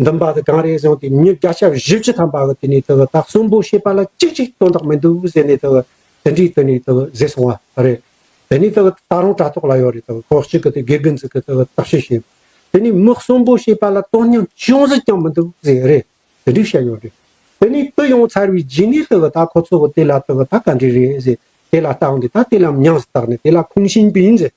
འདུན་པ་དེ་གང་རེད་བཟུང་སྟེ་མྱི་བརྒྱ་ཆ་བཞི་བཅུ་ཐམ་པ་གི་དེ་ནས་དེ་གི་དག་གསུམ་པོ་ཤེས་པ་ལ་ཅིག་ཅིག་སྟོན་རྟགས་མི་འདུག་ཟེར་ནས་དེ་གི་དེ་འདྲའི་དེ་ནས་དེ་གི་བཟས་སོང་བ་རེད། དེ་ནས་དེ་གི་ད་རུང་དྲ་ཐོག་ལ་ཡོད་རེད་དེ་གི་ཁོག་ཅིག་གི་དེ་དགེ་རྒན་ཚིག་གི་དེ་གི་དག་ཤེས་ཤིང། དེ་ནས་མི་གསུམ་པོ་ཤེས་པ་ལ་དོན་སྙིང་ཅུང་ཟད་ཀྱང་མི་འདུག་ཟེར་རེད་དེ་འདྲའི་བཤད་ཡོད་རེད། དེ་ནས་དེ་ཡོང་ཚར་བའི་རྗེས་ནས་དེ་གི་ད་ཁོ་ཚོ་གི་དེ་ལ་དེ་གི་ད་ག་འདྲས་རེད་ཟེར་དེ་ལ་བལྟ་འོང་དེ་ད་དེ་ལའམ་ཉམས་སུ་བཏགས་ནས་དེ་ལ་ཁུངས་བྱིན་པས་ཟེར།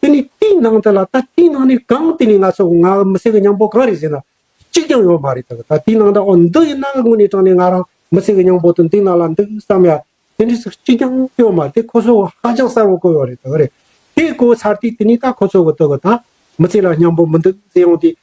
དེ་ནི་ཏིང་ནང་དེ་ལ་ད་ཏིང་ནང་ནི་གང་དེ་ནི་ང་ཚོ་ང་མི་སེར་གྱི་སྙིང་པོ་གང་རེད་ཟེར་ན་གཅིག་ཀྱང་ཡོད་མ་རེད་ད་ད་ཏིང་ནང་དང་ཨོ་འདི་ཡི་ནང་གི་དངོས་གནས་དྲང་ནས་ང་རང་མི་སེར་གྱི་སྙིང་པོ་དང་ཏིང་ནང་ལ་འདུག་བསམ་ཡ་དེ་འདྲས་སུ་གཅིག་ཀྱང་ཡོད་མ་རེད་ཁོ་ཚོ་ཧ་ཅང་གསལ་བོ་གོ་ཡོད་རེད་ད་རེད་དེ་གོ་ཚར་དུས་དེ་ནི་ད་ཁོ་ཚོ་གི་དོ་གི་ད་མི་སེར་ལ་སྙིང་པོ་མི་འདུག་ཟེར་ཡོང་དུས་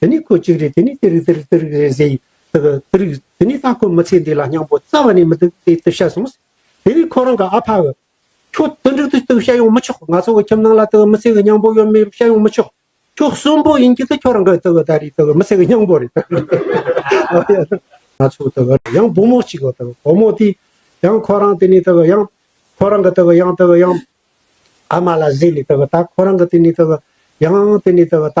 དེ་ནི་ཁོ་གཅིག་རེད་དེ་ནི་དེ་རིགས་དེ་རིགས་དེ་རིགས་རེད་ཟེར་དེ་རིགས་དེ་ནི་ད་ཁོ་མི་ཚེ་འདི་ལ་སྙིང་པོ་རྩ་བ་ནས་མི་འདུག་དེ་ལྟོས་ཤ་སོང། དེ་རིང་ཁོ་རང་གི་ཨ་ཕའོ། ཁྱོད་དེ་འདྲ་དེ་ལྟོས་ཤ་ཡོང་མི་ཆོག་ང་ཚོ་གི་ཁྱིམ་ནང་ལ་དེ་མི་ཚེ་གི་སྙིང་པོ་ཡོད་མེད་ཤ་ཡོང་མི་ཆོག་ཁྱོད་གསོན་པོ་ཡིན་གྱི་དེ་ཁྱོད་རང་གི་དེ་གི་ད་རེས་དེ་མི་ཚེ་གི་སྙིང་པོ་རེད། ང་ཚོ་དེ་གི་ཡང་བུ་མོ་གཅིག་དེ་བུ་མོ་དེ་ཡང་ཁོ་རང་དེ་ནི་དེ་གི་ཡང་ཁོ་རང་གི་དེ་གི་ཡང་དེ་གི་ཡང་ཨ་མ་ལ་བཟས་ནས་དེ་གི་ད་ཁོ་རང་གི་དེ་ནི་དེ་གི་ཡང་དེ་ནི་དེ་གི་ད་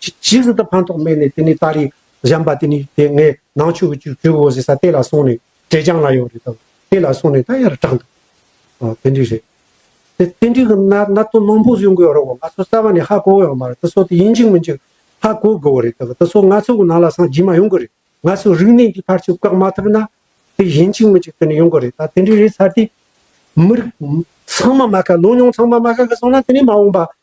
ཅི་ཇི་སྲིད་དུ་ཕན་ཐོགས་མེད་ནས་དེ་ནས་ད་རེས་གཞན་པ་དེ་ནས་དེ་ངས་ནང་ཆོས་ཀྱི་ཇུས་འགོ་ཟེར་ས་དེ་ལ་སོང་ནས་ཀྲེ་ཅང་ལ་ཡོད་རེད་དམ་དེ་ལ་སོང་ནས་ད་ཡར་དྲངས་འདུག་ཨོ་དེ་འདྲས་རེད། དེ་དེ་འདྲས་ཀྱི་ན་ན་དོན་མང་པོ་བཟོས་འགོས་རོགས་གོ་ང་ཚོ་རྩ་བ་ནས་ཧ་གོ་ཡོད་མ་རེད་དེ་ཚོ་དེ་ཡིན་གཅིག་མིན་གཅིག་ཧ་གོ་དགོས་རེད་དེ་ཚོ་ང་ཚོ་གི་ནང་ལ་སངས་རྒྱས་མ་ཡོང་གི་རེད་ང་ཚོ་རིག་གནས་ཀྱི་ཕར་ཆེར་བཀག་མ་ཐུབ་ན་དེ་ཡིན་གཅིག་མིན་གཅིག་དེ་ནས་ཡོང་གི་རེད་ད་དེ་འདྲས་རེད་ཚར་ཏེ། མི་རིགས་ཚང་མ་མ་དགའ་ལོ་ཉོང་ཚང་མ་མ་དགའ་གི་སོང་ན་དེ་ནས་མ་འོངས་པ།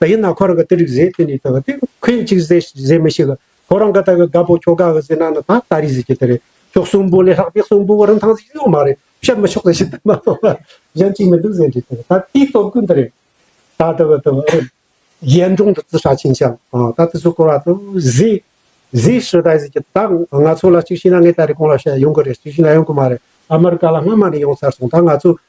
ད་ཡིན་ན་ཁོ་རང་ག་ཏི་རིག་ཟས་དེ་ནས་ད་ག་ཏི་ཁོས་གཅིག་ཟས་ཟས་མི་ཤེས་ག་ཁོ་རང་ག་ད་ག་དགའ་པོ་ཁྱོ་ག་ག་ཟས་ན་ན་ད་ད་རིག་ཟས་ཀྱི་ཏི་རེད་ཁྱོ་གསུམ་པོ་ལས་ལྷག་པའི་གསུམ་པོ་བ་རིན་ཐང་ཟིག་ཡོད་མ་རེད་བཤད་མི་ཆོག་ད་ཤི་ད་མ་གཏོགས་ལ་གཞན་གཅིག་མི་འདུག་ཟས་འདྲི་ཏི་རེད་ད་དེའི་སྟོབས་ཀུན་ཏི་རེད་ད་ད་བ་ད་བ་ཨ་ཡན་སྒྲུང་དུ་ཙི་ཧྲ་ཆིན་ཤང་ད་ཏི་སུ་སྐོར་བ་ཏི་ཟས་ཟས་ཧྲི་ད་ཟིག་ཀྱི་ད་ང་ཚོ་ལ་གཅིག་ཤི་ན་ངས་ད་རེ་གང་ལ་བཤད་ཡོང་གི་རེད་གཅིག་ཤི་ན་ཡོང་གི་མ་རེད་ཨ་མི་རི་ཀ་ལ་སྔ་མ་ནས་ཡོང་ཚར་སོང་ད་ང་ཚོས་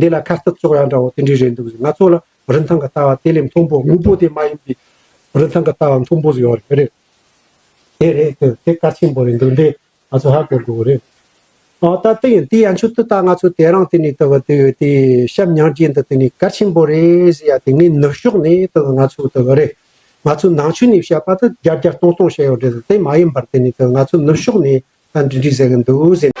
འདི་ལ་ཁ་སྟབས་སོགས་ཡང་འདྲ་བོ་དེ་འདྲའི་རེད་འདུག་ཟེར་ང་ཚོ་ལ་རིན་ཐང་གི་ལྟ་བ་དེ་ལས་མཐོང་པོ་དངོས་པོ་དེ་མ་ཡིན་པའི་རིན་ཐང་གི་ལྟ་བ་མཐོང་པོ་ཟེར་བ་རེད། དེ་རེད་དེ་དེ་གལ་ཆེན་པོ་རེད་འདུག་འདི་ང་ཚོ་ཧ་གོ་དགོས་པོ་རེད། ཨོ་ད་དེ་ཡིན་དེ་ཡ་མཆུ་ཏོ་ད་ང་ཚོ་དེ་རང་དེ་ནས་དེ་བ་དེ་ཡོད་དེ་ཞབས་ཉག་རྒྱས་འདི་དེ་ནས་གལ་ཆེན་པོ་རེད་ཟེར་ཡ་དེ་ངས་ནུབ་ཕྱོགས་ནས་དེ་བ་ང་ཚོ་དེ་བ་རེད། ང་ཚོ་ནང་ཆོས་ནས་བཤད་པ་དེ་བརྒྱ་བརྒྱ་སྟོང་སྟོང་བཤད་ཡོད་རེད་དེ་མ་ཡིན་པར་དེ་ནས་དེ་བ་ང་ཚོ་ནུབ་ཕྱོགས་ནས་ད་འདྲི་འདྲི་ཟེར་གི་འདུག་ཟེར།